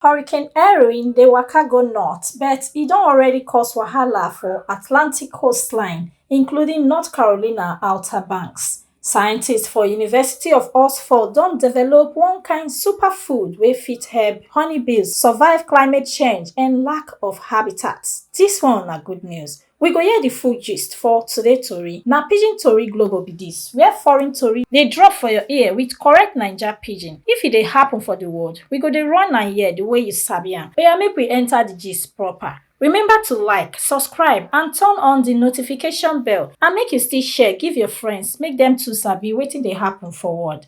Hurricane Erin dey waka go north, but e don already cause wahala for Atlantic coastline, including North Carolina Outer Banks. Scientists for University of Oxford don develop one kind superfood wey fit help honeybees survive climate change and lack of habitat. Dis one na good news. We go hear di full gist for today tori. Na Pidgin Tori Global be dis, where foreign tori dey drop for your ear with correct Naija pidgin. If e dey happen for di world, we go dey run am here di way you sabi am. Oya make we enter di gist proper. Remember to like, subscribe and turn on di notification bell and make you still share give your friends make dem too sabi wetin dey happen for world.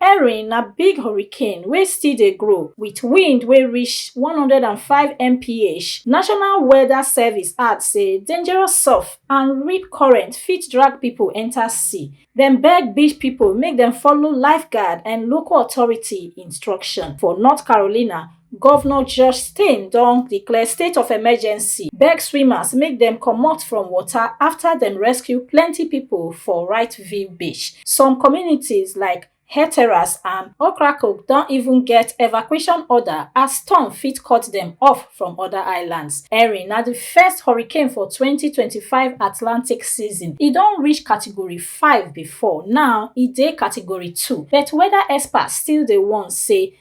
Erin na big hurricane wey still dey grow with wind wey reach 105 mph. National Weather Service add say dangerous surf and rip current fit drag pipo enta sea. Dem beg beach pipo make dem follow lifeguard and local authority instruction. For North Carolina, Governor Josh Stein don declare state of emergency, beg swimmers make dem comot from water after dem rescue plenty people for Right View Beach. Some communities like Heteras and Okrakok don even get evacuation order as storm fit cut dem off from other islands. Erin na the first hurricane for 2025 Atlantic season. E don reach category 5 before, now e dey category 2. But weather experts still dey warn say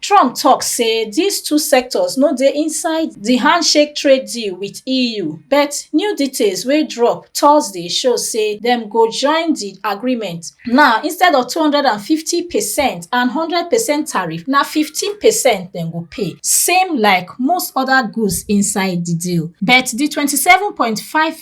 trump tok say dis two sectors no dey inside di handshake trade deal wit eu but new details wey drop thursday show say dem go join di agreement now instead of 250 percent and 100 percent tariff na 15 percent dem go pay same like most oda goods inside di deal but di 27.5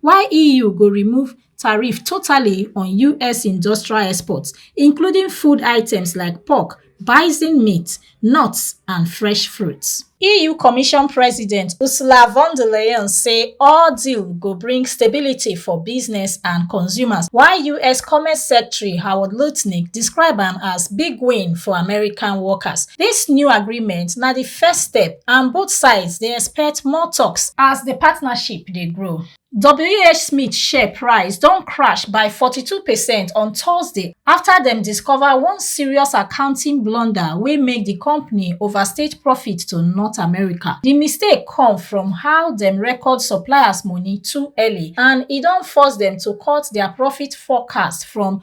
while eu go remove tariffs totally on us industrial exports including food items like pork bison meat nuts and fresh fruits eu commission president ursula von der leyen say all deal go bring stability for business and consumers while us commerce secretary howard lutnick describe am as big win for american workers dis new agreement na di first step and both sides dey expect more talks as di partnership dey grow. WHSmith share price don crash by 42 percent on Thursday after dem discover one serious accounting blunder wey make the company overstate profit to North America. The mistake come from how dem record suppliers money too early and e don force dem to cut their profit forecast from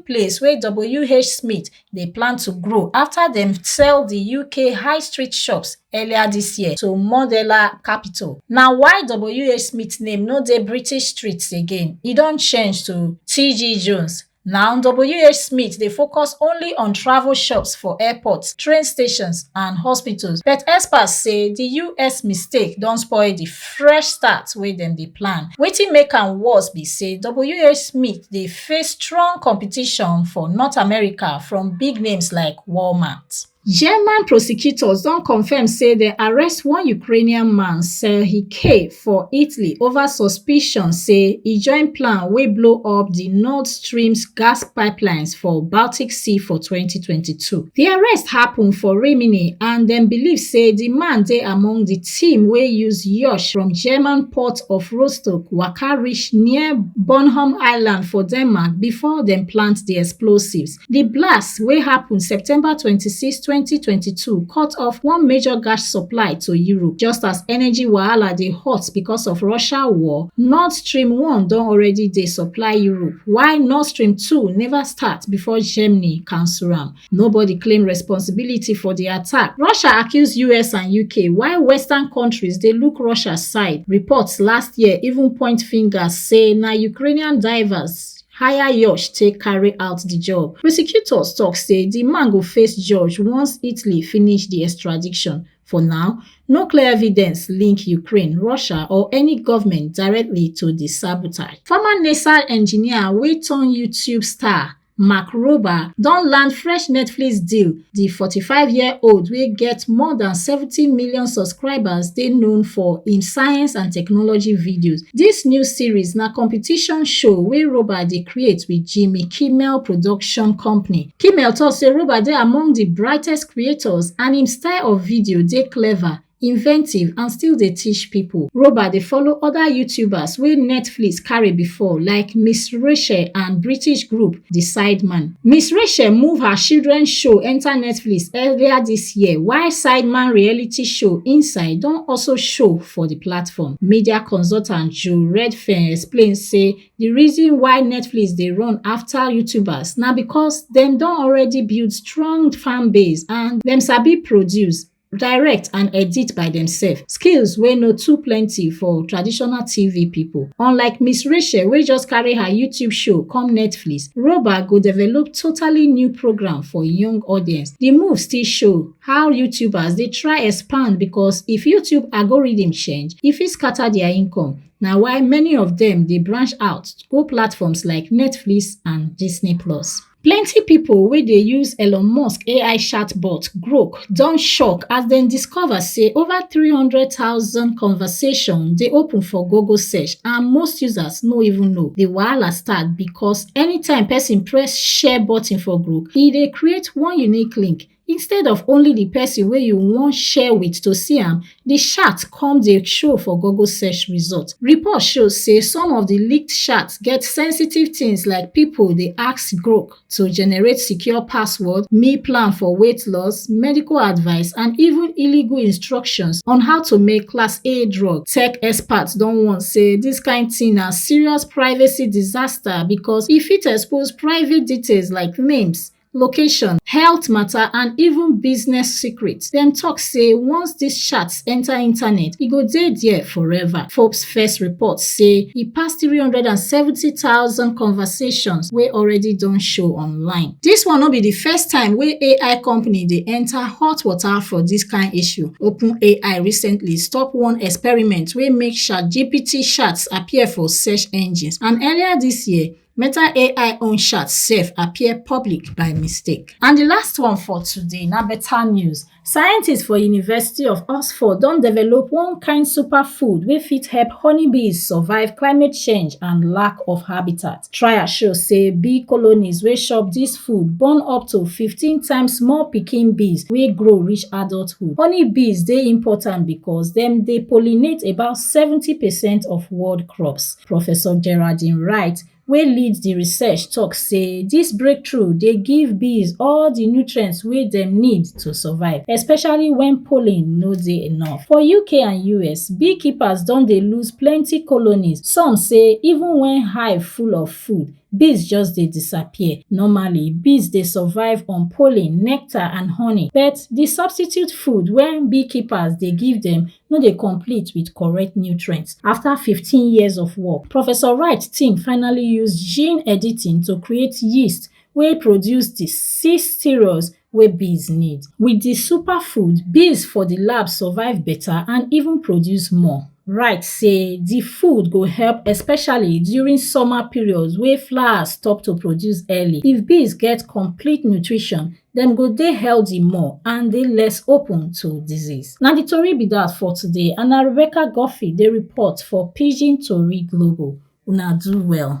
place wey WH Smith dey plan to grow after dem sell the UK high street shops earlier this year to Modela Capital. Na why WH Smith name no dey British streets again, e don change to TG Jones. Now, WH Smith dey focus only on travel shops for airports, train stations and hospitals, but experts say the US mistake don spoil the fresh start wey dem dey plan. Wetin make am worse be say WH Smith dey face strong competition for north america from big names like walmart german prosecutors don confam say dem arrest one ukrainian man serhiy k for italy over suspicion say e join plan wey blow up di nord stream gas pipelines for baltic sea for 2022 di arrest happun for rimini and dem believe say di man dey among di team wey use yacht from german port of rostock waka reach near bornholm island for denmark bifor dem plant di explosives di blast wey happun september twenty six twenty twenty two cut off one major gas supply to europe just as energy wahala dey hot becos of russia war nord stream one don already dey supply europe while nord stream two neva start bifor germany cancel am Nobody claim responsibility for di attack. Russia accuse US and UK while Western countries dey look Russia side. Reports last year even point fingers say na Ukrainian divers hire Yash take carry out di job. Prosecutors tok say di man go face judge once Italy finish di extradition. For now, no clear evidence link Ukraine, Russia or any government directly to di sabotage. Former NASA engineer wey turn YouTube star Mark Rober don land fresh Netflix deal. The 45-year-old wey get more than 70 million subscribers dey known for im science and technology videos. This new series na competition show wey Rober dey create with Jimmy Kimmel production company. Kimmel talk say Rober dey among the brightest creators and im style of video dey clever. inventive and still dey teach people. Roba dey follow other YouTubers wey Netflix carry before like Miss Rachel and British group The Sideman. Miss Rachel move her children show enter Netflix earlier this year while Sideman reality show Inside don also show for the platform. Media consultant Joe Redfern explain say the reason why Netflix dey run after YouTubers na because dem don already build strong fan base and dem sabi produce direct and edit by demsef skills wey no too plenty for traditional tv pipo unlike miss rachel wey just carry her youtube show come netflix roba go develop totally new programme for young audience di move still show how youtubers dey try expand becos if youtube algorithm change e fit scatter dia income na why many of dem dey branch out go platforms like netflix and disney plus plenty people wey dey use elon musk ai chatbot grok don shock as dem discover say over three hundred thousand conversation dey open for google search and most users no even know the wahala start because anytime person press share button for group e dey create one unique link instead of only the person wey you wan share with to see am, the chat come dey show for Google search result. Report show say some of the leaked chats get sensitive things like people dey ask Grok to generate secure password, meal plan for weight loss, medical advice, and even illegal instructions on how to make class A drug. Tech experts don warn say this kind thing na serious privacy disaster because e fit expose private details like names, location, health matter and even business secrets. Dem talk say once dis chats enter internet, e go dey there forever. Forbes first report say e pass 370,000 conversations wey already don show online. Dis one no be di first time wey AI company dey enter hot water for dis kain issue. OpenAI recently stop one experiment wey make ChatGPT chats appear for search engines and earlier dis year, Meta AI own chat sef appear public by mistake. And the last one for today na better news. Scientists for University of Oxford don develop one kind superfood wey fit help honeybees survive climate change and lack of habitat. Trials show say bee colonies wey chop this food born up to 15 times more pikin bees wey grow reach adulthood. Honeybees dey important because dem dey pollinate about 70 percent of world crops. Professor Geraldine Wright, wey lead di research tok say dis breakthrough dey give bees all di nutrients wey dem need to survive, especially wen pollen no dey enough. For UK and US, beekeepers don dey lose plenty colonies, some say even wen hive full of food, bees just dey disappear. Normally, bees dey survive on pollen, nectar and honey, but di substitute food wey beekeepers dey give dem no dey complete with correct nutrients. After 15 years of work, Professor Wright team finally use gene editing to create yeast wey produce the six sterols wey bees need. With the superfood, bees for the lab survive better and even produce more. Wright say the food go help especially during summer periods wey flowers stop to produce early. If bees get complete nutrition, dem go dey healthy more and dey less open to disease. Na di tori be dat for today and na Rebecca Guffey dey report for Pidgin Tori Global. Una do well.